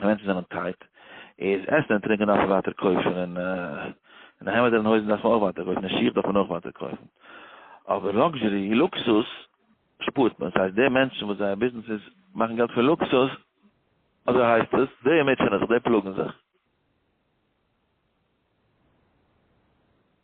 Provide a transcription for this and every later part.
ווען מענטשן זענען טייט איז עסן און טרינקען דארף מען ווייטער קויפן און און העמעדער און הויזן דארף מען אויך ווייטער קויפן און שיך דארף מען אויך ווייטער קויפן אבער לאקזשערי לוקסוס שפארט מען ס'הייסט די מענטשן וואס זייער ביזנעס איז מאכן געלט פון לוקסוס אזוי הייסט עס די מוטשענען זיך די פלאגן זיך.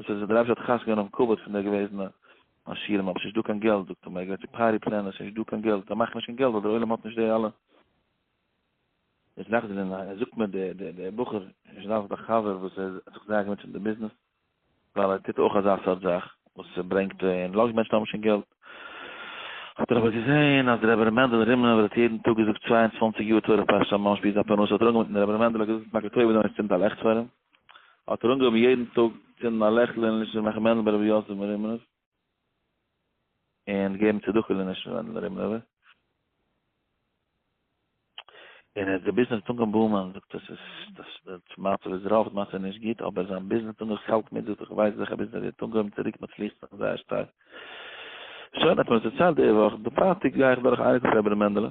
וואס איז עס? דער רבי האט חס געווען אויפן כבוד פון די געוועזענע עשירים, אבער ס'נישט דא קיין געלט, זאגט ער מיר, ער גייט צו פארי פלענער, ס'נישט דא קיין געלט, זיי מאכן נישט קיין געלט ווייל דער עולם האט נישט די אלע. איז נאכדעם זענען זיי, זאגט מיר דער דער דער בחור, איז דאס דער חבר וואס ער האט זיך זייער געמוטשעט מיט די ביזנעס, ווייל ער טוט אויך אזא סארט זאך, וואס ס'ברענגט און לאזט מענטשן האבן שוין געלט. האט דער רבי געזען אז דער רבי ר' מענדל רימנובער האט יעדן טאג געזאגט צוויי און צוואַנציק יאר תורה פרשה ממש ביז די אפאר נאסע האט ער אנגעבונדן, דער רבי ר' מענדל האט געזאגט, מאכט א טובה דא און צינדט א לעכט פאר אים. האט ער אנגעהויבן יעדן טאג צינדן א לעכטל אין לשם רחמנא ברבי יוסף מרימנוב, און געבן צדקה לנשמתו פון רבי רימנובער, און ער האט געביסן די טונג און באומען זאגט עס איז דאס דאס מצב איז רוב די מצב נישט גוט אבער זיין ביזנעס טונג איך האלט מיט זאגט איך ווייס זיכער ביזנעס וועט אנגעהויבן צוריק מצליח זיין זייער שטארק שוין האט מען עס דערציילט די וואך די פרייטאג גיי איך דורך אייניגע פון רבי מענדעלע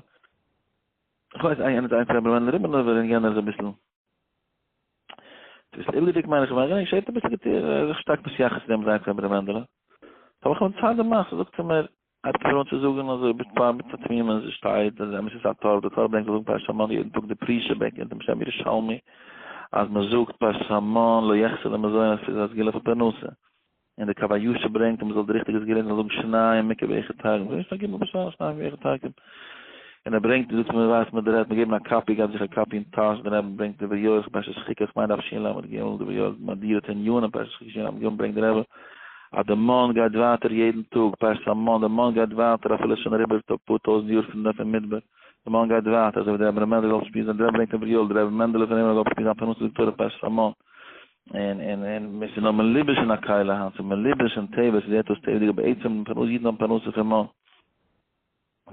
איך ווייס איינער איינס רבי מענדל רימנובער און יענער איז אביסל דאס איז אילדיג מיין איך מיין איך שייט אביסל געטיר איך שטארק מיט יחס דעם זיין פון רבי מענדלע האב איך מצד דעם מאס זאגט ער מיר האט ער פארן צו זאגן אז ביט פאר מיט תמימות אז שטייט אז אמת איז א טאר די טאר ברענגט זאגן פאר שמעון יעדן טאג די פרישע בעק אין דעם שם ירושלמי אז מ'זאגט פאר שמעון לא יחסר למזונות איז א סגולה פון פרנסה און די קו הישר ברענגט אז מען זאל די ריכטיגע זאל געלערנט זיין זאגן שניי מיקה ואיכא תרגום זאגן שניי גימל בשער שניי ואיכא תרגום און ער ברענגט דאס מען ווייסט מען דערהערט מען געבן א קאפי געבט זיך א קאפי אין טאש דערנעבן ברענגט דברי יואל איך פרשת שחיקה איך מיין דף ש ל עמוד ג דברי יואל מאדיר את הענין אין פרשת שחיקה ש ל עמוד ג ברענגט דער רבי אז דער מאן גייט ווייטער יעדן טאג פרשת המן דער מאן גייט ווייטער אפילו שוין אריבער א פאר טויזנט יאר פון דעם מדבר דער מאן גייט ווייטער אזוי ווי דער רבי מענדל זאל שפירן זיין דער רבי ברענגט דברי יואל דער רבי מענדל פון אימער זאל שפירן זיין פרנסה זאגט תורה פרשת המן און און און מיר ס'איז נאר מלובש אין א קהלה היינט, ס'איז מלובש אין תיבות, ס'איז עטוואס תיבות'דיג, אבער עצם פרנסה, אידן האבן פרנסה פון מאן.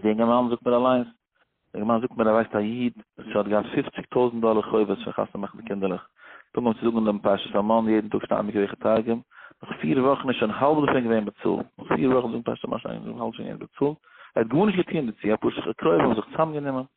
די אינגע מאן זאגט מיר אליינס, די אינגע מאן זאגט מיר, ער ווייסט א איד וואס האט געהאט פופציג טויזנט דאלער חובות פון חתונה מאכן די קינדערלעך, פונקט ווען צו זאגן דעם פרשת המן יעדן טאג שטייען די קרח התרגום, נאך פיר וואכן איז שוין האלב דערפון געווען באצאלט, נאך פיר וואכן זאגן פרשת המן שוין האלב שוין געווען באצאלט, ער האט גארנישט געטון דערצו, אפאר קרובים האבן זיך צוזאמגענומען.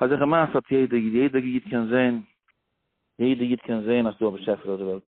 אזעלכע מעשה האט יעדע איד, יעדע איד קען זעהן, יעדע איד קען זעהן אז ס'איז דא א באשעפער אויף די וועלט.